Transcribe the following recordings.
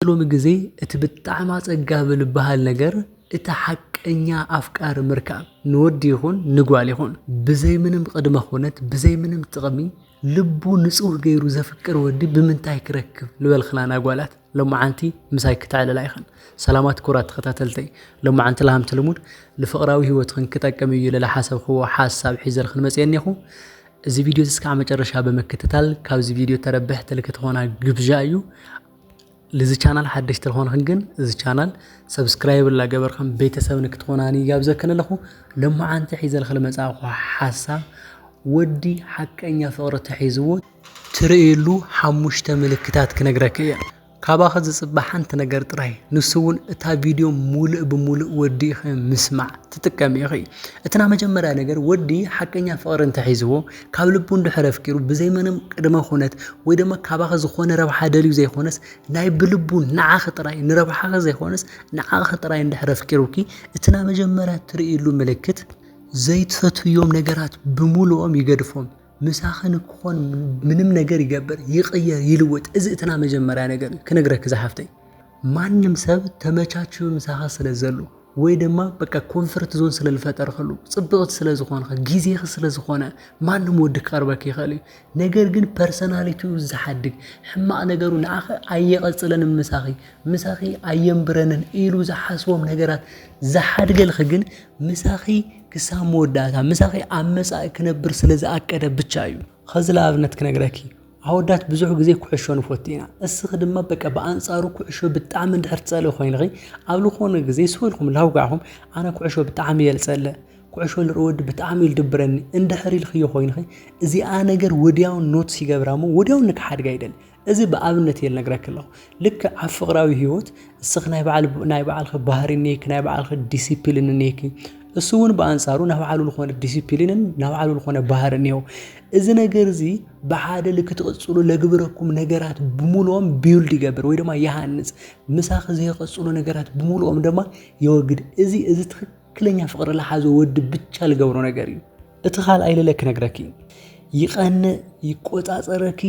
ኣብዚ ሎሚ ግዜ እቲ ብጣዕሚ ኣጸጋቢ ልበሃል ነገር እቲ ሓቀኛ ኣፍቃሪ ምርካብ ንወዲ ይኹን ንጓል ይኹን ብዘይ ምንም ቕድመ ኹነት ብዘይ ምንም ጥቕሚ ልቡ ንጹህ ገይሩ ዘፍቅር ወዲ ብምንታይ ክረክብ ልበልክናና ጓላት ሎምዓንቲ ምሳይ ክተዕልላ ኢኽን ሰላማት ኩራት ተኸታተልተይ ሎምዓንቲ ልሃምቲ ልሙድ ልፍቕራዊ ሂወትኽን ክጠቅም እዩ ልልሓሰብኽዎ ሓሳብ ሒዘልኽን መጽየ እኔኹ እዚ ቪድዮ እዚ እስካዕ መጨረሻ ብምክትታል ካብዚ ቪድዮ ተረብሕቲ ልክትኾና ግብዣ እዩ ልዚ ቻናል ሓደሽቲ ተኾንክን ግን እዚ ቻናል ሰብስክራይብ ላገበርክን ቤተሰብ ንክትኾናኒ ይጋብዘክን ኣለኹ ለመዓንቲ ሒዘልክ ልመጻእኹ ሓሳብ ወዲ ሓቀኛ ፍቕሪ ተሒዝዎ ትርእየሉ ሓሙሽተ ምልክታት ክነግረክ እየ ካባኸ ዝጽበ ሓንቲ ነገር ጥራይ ንሱ እውን እታ ቪድዮ ሙሉእ ብሙሉእ ወዲእኸ ምስማዕ ትጥቀም ኢኺ እትና መጀመርያ ነገር ወዲ ሓቀኛ ፍቕሪ እንተሒዝዎ ካብ ልቡ እንድሕር ኣፍቂሩ ብዘይ ምንም ቅድመ ኩነት ወይ ድማ ካባኺ ዝኾነ ረብሓ ደልዩ ዘይኮነስ ናይ ብልቡ ንዓኺ ጥራይ ንረብሓኺ ዘይኮነስ ንዓኺ ጥራይ እንድሕር ኣፍቂሩኪ እቲ ናይ መጀመርያ ትርእይሉ ምልክት ዘይትፈትውዮም ነገራት ብምሉኦም ይገድፎም ምሳኺ ንክኾን ምንም ነገር ይገብር ይቕየር ይልወጥ እዚ እትና መጀመርያ ነገር እዩ ክነግረኪ ዝሓፍተይ ማንም ሰብ ተመቻችዩ ምሳኻ ስለ ዘሉ ወይ ድማ በቃ ኮንፈርት ዞን ስለ ዝፈጠርኸሉ ጽብቕቲ ስለ ዝኾንኸ ግዜኺ ስለ ዝኾነ ማንም ወዲ ክቐርበኪ ይኽእል እዩ ነገር ግን ፐርሰናሊቲኡ ዝሓድግ ሕማቕ ነገሩ ንዓኺ ኣየቐጽለንን ምሳኺ ምሳኺ ኣየንብረንን ኢሉ ዝሓስቦም ነገራት ዝሓድገልኺ ግን ምሳኺ ክሳብ መወዳእታ ምሳኺ ኣብ መጻኢ ክነብር ስለ ዝኣቀደ ብቻ እዩ ኸዚ ንኣብነት ክነግረኪ ኣወዳት ብዙሕ ግዜ ኩዕሾ ንፈቱ ኢና እስኺ ድማ በቃ ብኣንጻሩ ኩዕሾ ብጣዕሚ እንድሕር ትጸልኢ ኮይንኺ ኣብ ዝኾነ ግዜ ስበልኩም ላውጋዕኹም ኣነ ኩዕሾ ብጣዕሚ እየ ዝጸልእ ኩዕሾ ንርኢ ወዲ ብጣዕሚ እዩ ዝድብረኒ እንድሕር ኢልክዮ ኮይንኺ እዚኣ ነገር ወዲያውን ኖትስ ይገብራ እሞ ወዲያውን ንክሓድጋ ይደሊ እዚ ብኣብነት እየ ልነግረኪ ኣለኹ ልክዕ ኣብ ፍቕራዊ ህይወት እስኺ ናይ ባዕል ናይ ባዕልኺ ባህሪ እኒሄኪ ናይ ባዕልኺ ዲሲፕሊን እኒሄኪ እሱ እውን ብኣንጻሩ ናብ ባዕሉ ዝኾነ ዲሲፕሊንን ናብ ባዕሉ ዝኾነ ባህሪ እኒሄው እዚ ነገር እዚ ብሓደ ልክ ትቕጽሉ ለግብረኩም ነገራት ብምሉኦም ቢውልድ ይገብር ወይ ድማ ይሃንጽ ምሳኺ ዘይቐጽሉ ነገራት ብምሉኦም ድማ የወግድ እዚ እዚ ትክክለኛ ፍቕሪ ለሓዘ ወዲ ብቻ ልገብሮ ነገር እዩ እቲ ካልኣይ ልለ ክነግረኪ ይቐንእ ይቆጻጸረኪ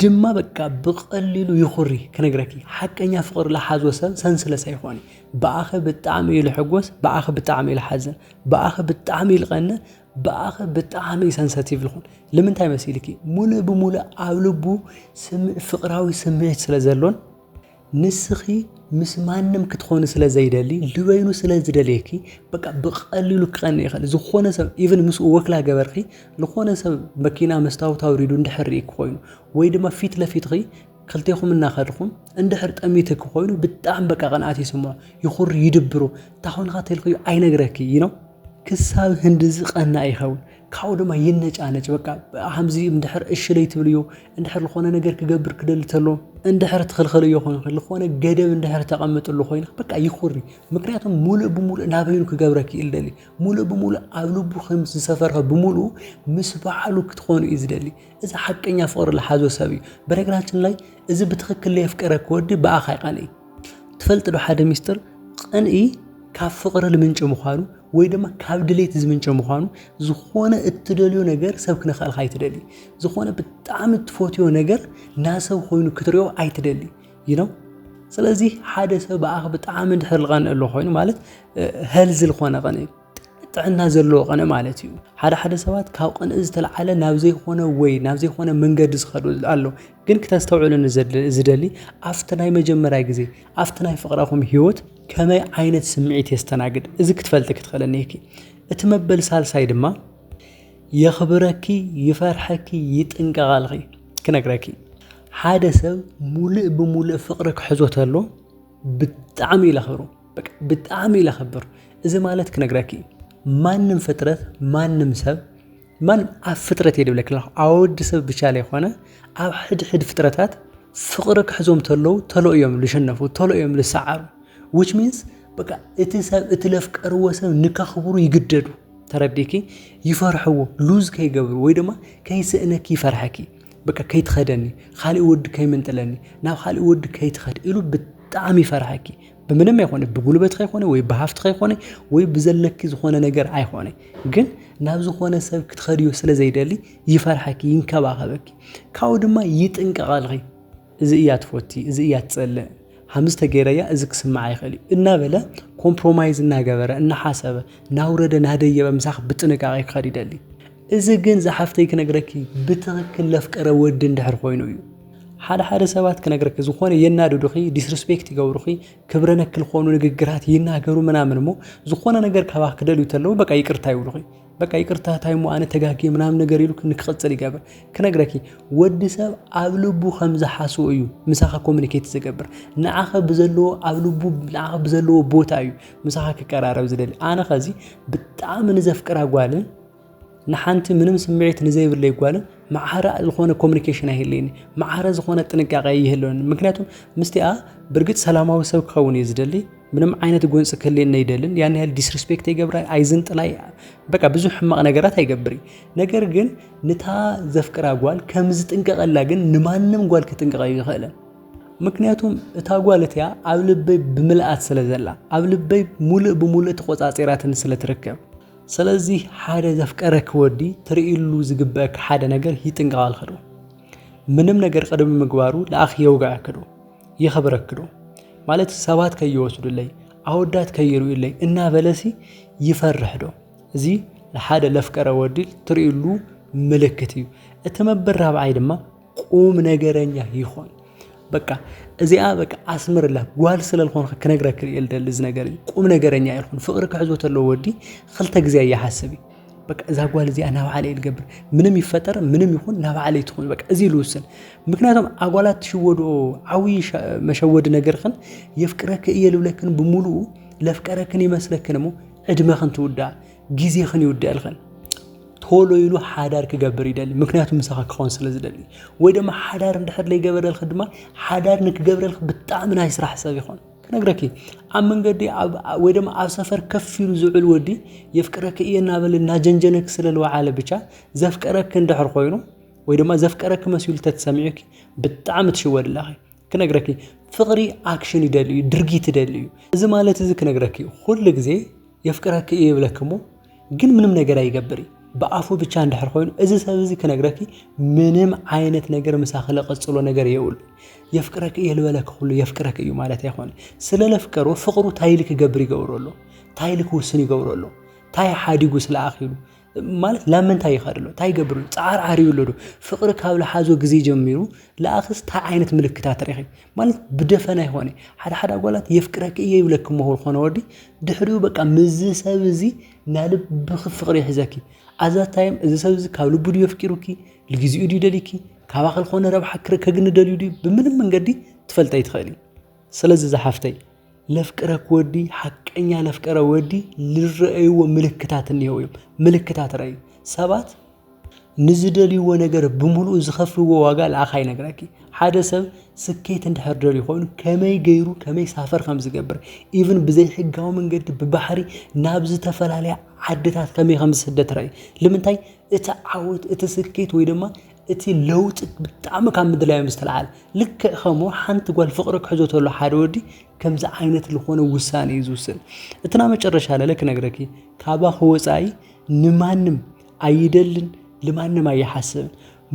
ድማ በቃ ብቐሊሉ ይኹሪ ክነግረኪ ሓቀኛ ፍቕሪ ልሓዞ ሰብ ሰንስለሳ ይኾኒ ብኣኸ ብጣዕሚ እዩ ልሕጎስ ብኣኸ ብጣዕሚ እዩ ልሓዝን ብኣኸ ብጣዕሚ እዩ ልቐንእ ብኣኸ ብጣዕሚ እዩ ሰንሰቲቭ ልኹን ልምንታይ መሲልኪ ሙሉእ ብሙሉእ ኣብ ልቡ ፍቕራዊ ስምዒት ስለ ዘሎን ንስኺ ምስ ማንም ክትኾኒ ስለ ዘይደሊ ልበይኑ ስለ ዝደልየኪ በቃ ብቐሊሉ ክቐኒ ይኽእል ዝኾነ ሰብ ኢቨን ምስኡ ወክላ ገበርኺ ዝኾነ ሰብ መኪና መስታወት ኣውሪዱ እንድሕር ርኢኪ ኮይኑ ወይ ድማ ፊት ለፊትኺ ክልቴኹም እናኸድኹም እንድሕር ጠሚትኪ ኮይኑ ብጣዕሚ በቃ ቅንኣት ይስምዖ ይኹሪ ይድብሩ እንታኾንካ ተልክዩ ኣይነግረኪ እዩ ነው ክሳብ ህንድዚ ቀና ይኸውን ካብኡ ድማ ይነጫነጭ በቃ ከምዚ እንድሕር እሺ ለይትብልዮ እንድሕር ዝኾነ ነገር ክገብር ክደሊ ተሎ እንድሕር ትኽልኸልዮ ኮይንኺ ዝኾነ ገደብ እንድሕር ተቐምጥሉ ኮይንኺ በቃ ይኹሪ ምክንያቱም ሙሉእ ብሙሉእ ናበይኑ ክገብረኪ እዩ ዝደሊ ሙሉእ ብሙሉእ ኣብ ልቡ ከም ዝሰፈርኸ ብምሉኡ ምስ በዓሉ ክትኾኑ እዩ ዝደሊ እዚ ሓቀኛ ፍቕሪ ዝሓዞ ሰብ እዩ በነገራችን ላይ እዚ ብትኽክል ለየፍቀረኪ ወዲ ብኣኻ ይቐንእ ትፈልጥ ዶ ሓደ ሚስጥር ቕንኢ ካብ ፍቕሪ ልምንጭ ምዃኑ ወይ ድማ ካብ ድሌት ዝምንጭ ምዃኑ ዝኾነ እትደልዮ ነገር ሰብ ክነኸእልካ ኣይትደሊ ዝኾነ ብጣዕሚ እትፈትዮ ነገር ናሰብ ኮይኑ ክትሪኦ ኣይትደሊ ይኖ ስለዚ ሓደ ሰብ ብኣኽ ብጣዕሚ ድሕር ልቐንእ ኣሎ ኾይኑ ማለት ሀልዚ ልኾነ ቐንእ ጥዕና ዘለዎ ቐነ ማለት እዩ ሓደ ሓደ ሰባት ካብ ቐንኢ ዝተለዓለ ናብ ዘይኮነ ወይ ናብ ዘይኮነ መንገዲ ዝኸዱ ኣሎ ግን ክተስተውዕሉ ዝደሊ ኣብቲ ናይ መጀመርያ ግዜ ኣብቲ ናይ ፍቕረኹም ህይወት ከመይ ዓይነት ስምዒት የስተናግድ እዚ ክትፈልጢ ክትኽእለኒ እኪ እቲ መበል ሳልሳይ ድማ የኽብረኪ ይፈርሐኪ ይጥንቀቓልኺ ክነግረኪ ሓደ ሰብ ሙሉእ ብሙሉእ ፍቕሪ ክሕዞ ተሎ ብጣዕሚ ኢለ ክብሩ ብጣዕሚ ኢለ ክብር እዚ ማለት ክነግረኪ ማንም ፍጥረት ማንም ሰብ ማንም ኣብ ፍጥረት እየ ድብለኪ ኣለኹ ኣብ ወዲ ሰብ ብቻ ዘይኮነ ኣብ ሕድሕድ ፍጥረታት ፍቕሪ ክሕዞም ተለዉ ተሎ እዮም ዝሸነፉ ተሎ እዮም ዝሰዓሩ ዊች ሚንስ በቃ እቲ ሰብ እቲ ለፍቀርዎ ሰብ ንከኽብሩ ይግደዱ ተረዲኪ ይፈርሕዎ ሉዝ ከይገብሩ ወይ ድማ ከይስእነኪ ይፈርሐኪ በቃ ከይትኸደኒ ኻሊእ ወዲ ከይምንጥለኒ ናብ ኻሊእ ወዲ ከይትኸድ ኢሉ ብጣዕሚ ይፈርሃኪ ብምንም ኣይኮነ ብጉልበትካ ይኮነ ወይ ብሃፍትካ ይኮነ ወይ ብዘለኪ ዝኾነ ነገር ኣይኮነ ግን ናብ ዝኾነ ሰብ ክትኸድዮ ስለ ዘይደሊ ይፈርሓኪ ይንከባኸበኪ ካብኡ ድማ ይጥንቀቐልኺ እዚ እያ ትፎቲ እዚ እያ ትጸልእ ሃምዝ ተገይረያ እዚ ክስምዓ ይኽእል እዩ እናበለ ኮምፕሮማይዝ እናገበረ እናሓሰበ ናውረደ ናደየበ ምሳኽ ብጥንቃቄ ክኸድ ይደሊ እዚ ግን ዝሓፍተይ ክነግረኪ ብትኽክል ለፍቀረ ወዲ እንድሕር ኮይኑ እዩ ሓደ ሓደ ሰባት ክነግረኪ ዝኾነ የናድዱኺ ዲስሪስፔክት ይገብሩኺ ክብረ ነክ ዝኾኑ ንግግራት ይናገሩ ምናምን እሞ ዝኾነ ነገር ካባኽ ክደልዩ ተለዉ በቃ ይቅርታ ይብሉኺ በቃ ይቅርታ ታይሞ ኣነ ተጋጊ ምናምን ነገር ኢሉ ንክቕፅል ይገብር ክነግረኪ ወዲ ሰብ ኣብ ልቡ ከም ዝሓስቦ እዩ ምሳኻ ኮሚኒኬት ዝገብር ንዓኸ ብዘለዎ ኣብ ልቡ ንዓኸ ብዘለዎ ቦታ እዩ ምሳኻ ክቀራረብ ዝደሊ ኣነ ኸዚ ብጣዕሚ ንዘፍቅራ ጓልን ንሓንቲ ምንም ስምዒት ንዘይብለይ ጓልን መዓረ ዝኾነ ኮሚኒኬሽን ኣይህልይኒ መዓረ ዝኾነ ጥንቃቐ ይህልወኒ ምክንያቱም ምስቲኣ ብርግፅ ሰላማዊ ሰብ ክኸውን እዩ ዝደሊ ምንም ዓይነት ጎንፂ ክህልየኒ ኣይደልን ያን ያህል ዲስሪስፔክት ይገብራ ኣይዝንጥላይ በቃ ብዙ ሕማቕ ነገራት ኣይገብር ነገር ግን ንታ ዘፍቅራ ጓል ከም ዝጥንቀቐላ ግን ንማንም ጓል ክጥንቀቐ ይኽእልን ምክንያቱም እታ ጓል እቲኣ ኣብ ልበይ ብምልኣት ስለ ዘላ ኣብ ልበይ ሙሉእ ብምሉእ ተቆፃፂራትን ስለ ትርከብ ሰለዚ ሓደ ዘፍቀረኪ ወዲ ትርእይሉ ዝግበእኪ ሓደ ነገር ይጥንቀቐልኪ ዶ? ምንም ነገር ቅድሚ ምግባሩ ለኣኽ የውግዐኪ ዶ? የኽብረኪ ዶ? ማለት ሰባት ከይወስዱለይ ኣወዳት ከይርእዩለይ እናበለሲ ይፈርሕ ዶ? እዚ ንሓደ ለፍቀረ ወዲ ትርእይሉ ምልክት እዩ። እቲ መበል ራብዓይ ድማ ቁም ነገረኛ ይኾን በቃ እዚኣ በቃ ኣስምርላ ጓል ስለ ዝኾንካ ክነግረክ እየ ልደሊ እዚ ነገር እዩ ቁም ነገረኛ ይኹን ፍቅሪ ክሕዞ ተለዎ ወዲ ክልተ ግዜ ኣይሓስብ እዩ በቃ እዛ ጓል እዚኣ ናብ ዓለ ልገብር ምንም ይፈጠር ምንም ይኹን ናብ ዓለ ትኹን በቃ እዚ ልውስን ምክንያቱም ኣጓላት ትሽወድኦ ዓብዪ መሸወዲ ነገርክን የፍቅረክ እየ ልብለክን ብምሉኡ ለፍቀረክን ይመስለክን እሞ ዕድመክን ትውዳእ ግዜኽን ይውደኣልኽን ቶሎ ኢሉ ሓዳር ክገብር ይደሊ ምክንያቱ ምሳኻ ክኸውን ስለ ዝደሊ ወይ ድማ ሓዳር እንድሕር ዘይገበረልኪ ድማ ሓዳር ንክገብረልኪ ብጣዕሚ ናይ ስራሕ ሰብ ይኾን ክነግረኪ ኣብ መንገዲ ወይ ድማ ኣብ ሰፈር ከፍ ኢሉ ዝውዕል ወዲ የፍቅረኪ እየ እናበለ እናጀንጀነኪ ስለ ዝወዓለ ብቻ ዘፍቀረኪ እንድሕር ኮይኑ ወይ ድማ ዘፍቀረኪ መሲሉ ተትሰሚዑኪ ብጣዕሚ ትሽወድላኺ ክነግረኪ ፍቅሪ ኣክሽን ይደልዩ ድርጊት ይደልዩ እዚ ማለት እዚ ክነግረኪ ኩሉ ግዜ የፍቅረኪ እዩ ይብለኪ እሞ ግን ምንም ነገር ኣይገብር እዩ ብኣፉ ብቻ እንድሕር ኮይኑ እዚ ሰብ እዚ ክነግረኪ ምንም ዓይነት ነገር ምሳኺ ለቐጽሎ ነገር የብሉ የፍቅረኪ እየ ልበለኪ ኩሉ የፍቅረኪ እዩ ማለት ኣይኮነ ስለ ለፍቀሩ ፍቅሩ ታይ ኢሉ ክገብር ይገብሮ ኣሎ ታይ ኢሉ ክውስን ይገብሮ ኣሎ ታይ ሓዲጉ ስለ ኣኺሉ ማለት ናብ ምንታይ ይኸድ ኣሎ እንታይ ይገብር ኣሎ ፃዓር ዓርዩ ኣሎ ዶ ፍቕሪ ካብ ልሓዞ ግዜ ጀሚሩ ለኣኽስ ታይ ዓይነት ምልክታት ርኺ ማለት ብደፈና ይኾነ ሓደ ሓደ ኣጓላት የፍቅረኪ እየ ይብለኪ ሞኹ ዝኾነ ወዲ ድሕሪኡ በቃ ምዝ ሰብ እዙ ናይ ልብኺ ፍቕሪ ይሕዘኪ ኣዛ ታይም እዚ ሰብ እዚ ካብ ልቡ ድዩ የፍቂሩኪ ልግዜኡ ድዩ ደሊኪ ካባኺ ልኾነ ረብሓ ክረከግኒ ደልዩ ድዩ ብምንም መንገዲ ትፈልጠይ ኣይትኽእሊ። ስለዚ ዝሓፍተይ ለፍቅረክ ወዲ ሓቀኛ ለፍቀረ ወዲ ንረኣይዎ ምልክታት እኒሄው እዮም ምልክታት ረኣዩ ሰባት ንዝደልይዎ ነገር ብምሉኡ ዝኸፍልዎ ዋጋ ልኣኻ ይነግረኪ ሓደ ሰብ ስኬት እንድሕር ደልዩ ኮይኑ ከመይ ገይሩ ከመይ ሳፈር ከም ዝገብር ኢቭን ብዘይ ሕጋዊ መንገዲ ብባሕሪ ናብ ዝተፈላለያ ዓድታት ከመይ ከም ዝስደት ረኣዩ ልምንታይ እቲ ዓወት እቲ ስኬት ወይ ድማ እቲ ለውጢ ብጣዕሚ ካብ ምድላዮም ዝተልዓለ ልክዕ ከምኡ ሓንቲ ጓል ፍቕሪ ክሕዞ ተሎ ሓደ ወዲ ከምዚ ዓይነት ዝኾነ ውሳኔ እዩ ዝውስን እቲ ና መጨረሻ ለለ ክነግረኪ ካባኺ ወፃኢ ንማንም ኣይደልን ልማንም ኣይሓስብን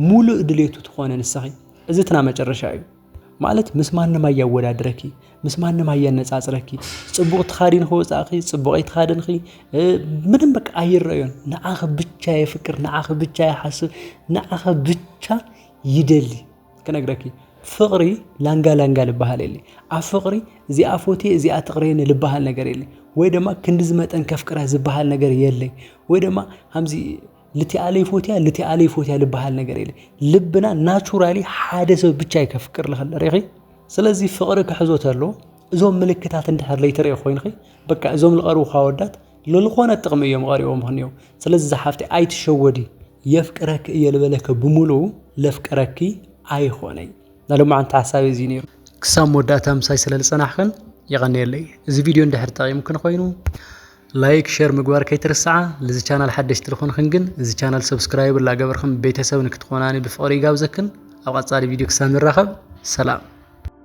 ሙሉእ ድሌቱ ትኾነ ንስኺ እዚ እቲ ና መጨረሻ እዩ ማለት ምስ ማንም ኣያወዳድረኪ ምስ ማንም ኣያነጻጽረኪ ጽቡቕ ተኻዲን ከወጻእኺ ጽቡቕ ኣይተኻደንኺ ምንም በቃ ኣይረኣዮን ንዓኺ ብቻ የፍቅር ንዓኺ ብቻ ይሓስብ ንዓኺ ብቻ ይደሊ ክነግረኪ ፍቕሪ ላንጋ ላንጋ ልበሃል የለ ኣብ ፍቕሪ እዚኣ ፎቴ እዚኣ ትቕረየኒ ልበሃል ነገር የለ ወይ ድማ ክንዲዚ መጠን ከፍቅራ ዝበሃል ነገር የለይ ወይ ድማ ሃምዚ ልቲኣለ ይፎትያ ልቲኣለ ይፎትያ ልበሃል ነገር የለ ልብና ናቹራሊ ሓደ ሰብ ብቻ እዩ ከፍቅር ልኽእል ሪኺ ስለዚ ፍቕሪ ክሕዞ ተሎ እዞም ምልክታት እንድሕር ለይተሪኦ ኮይንኺ በቃ እዞም ልቐርቡኻ ወዳት ለልኾነ ጥቕሚ እዮም ቐሪቦም ኽንዮ ስለዚ ዝሓፍቲ ኣይትሸወዲ የፍቅረኪ እየ ልበለከ ብምሉኡ ለፍቅረኪ ኣይኾነይ ናሎማዓንቲ ሓሳብ እዚ ነይሩ ክሳብ መወዳእታ ምሳይ ስለልፀናሕክን የቐንየለይ እዚ ቪድዮ እንድሕር ጠቒምክን ኮይኑ ላይክ ሸር ምግባር ከይትርስዓ ልዚ ቻናል ሓደሽቲ ልኾንክን ግን እዚ ቻናል ሰብስክራይብ ላገበርክን ቤተሰብ ንክትኾናኒ ብፍቕሪ ይጋብዘክን ኣብ ቐፃሊ ቪድዮ ክሳብ ንራኸብ ሰላም